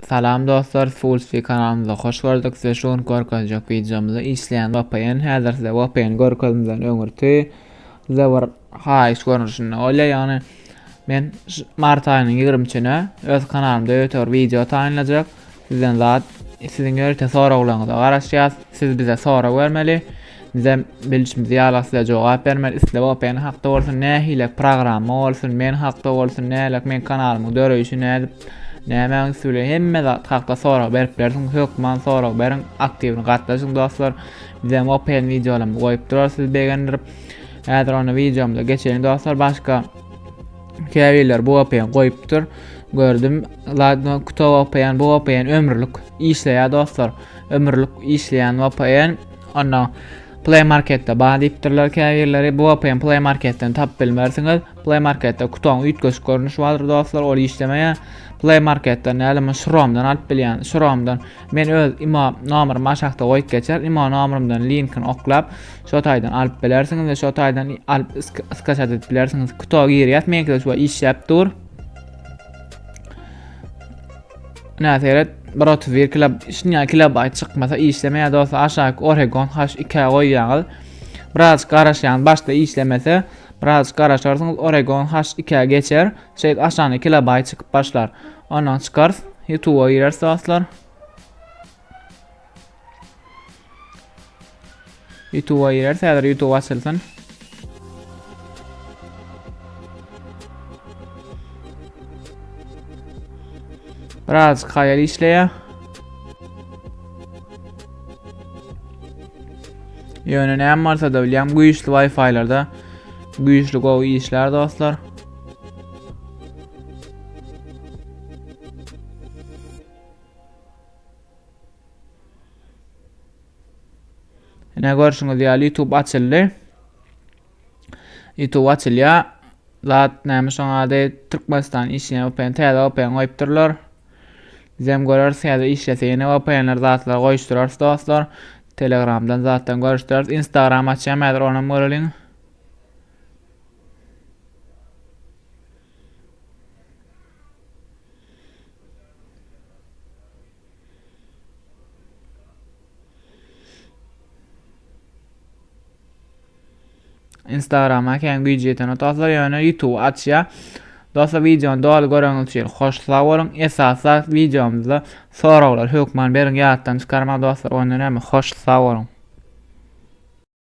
Salam dostlar Fulspi kanalymyza hoş gördük size şu gün görkezjek wideomyzda işleýän VPN häzir size VPN görkezmeden öňürti size bir haýyş görnüşinde bolýar ýagny men mart aýynyň 20-sine öz kanalymda ýöte bir wideo taýynlajak sizden zat siziň ýörite soraglaryňyza garaşýas siz bize sorag bermeli bize bilişimiz ýaly size jogap bermeli isle VPN hakda bolsun nähili programma bolsun men hakda bolsun nälik men kanalymyň döreýşi nädip Nämäň üsti bilen hemme zat hakda sorag berip bersin, hökman sorag beriň, aktiwni gatnaşyň dostlar. Bizem open videolarymyzy goýup durar sizi begendirip. Häzir onda videomyza geçeýin dostlar. Başga käbirler bu open goýupdyr. Gördüm. Ladno kuto open bu open ömürlik işleýär dostlar. Ömürlik işleýän open. Onda Play Marketde bar diýipdirler käbirleri. Bu open Play Marketden tapyp bilmersiňiz. Play Marketde kutoň üýtgeşik görnüşi bardyr dostlar, ol işlemeýär. Play Marketden näle men Şromdan alyp bilýän. Şromdan men öz imo nomerymy aşakda goýup geçer. Imo nomerymdan linkini oklap, şo taýdan alyp bilersiňiz we şo taýdan alyp skaçat edip bilersiňiz. Kuto girýär, meňkide şu işläp dur. Näme seret? 131 kilo, şunya kilobayt çykmasa işlemeýär dostlar. Aşaky Oregon H2 goýýaňyz. Biraz garaşýan, başda işlemese, Biraz garaşarsyňyz Oregon haş ikä geçer. Şeýdip aşagyna kilobaýt çykyp başlar. Ondan çykarys. Youtube'a gireris dostlar. Youtube'a gireris. Häzir YouTube açylsyn. Biraz hayal işleýär. Ýöne näme bolsa-da bilýän güýçli Wi-Fi-larda güýçli gowy işlär dostlar. Ine görşüňiz ýaly YouTube açyldy. Ýutube açylýa. Zat näme şoň ady Türkmenistan işleýän VPN täze VPN goýupdyrlar. Bizem göreriz täze işlese ýene VPN'ler zatlar goýuşdyrarys dostlar. Telegramdan zatdan görüşdüreriz. Instagram açýan häzir onam göreliň. Instagrama kän güýji ýetene dostlar ýöne YouTube açýa. Dostlar videony doly göreňiz üçin hoş sag boluň. Esas zat videomyzda soraglar hökman beriň ýatdan çykarma dostlar. Onda näme hoş sag boluň.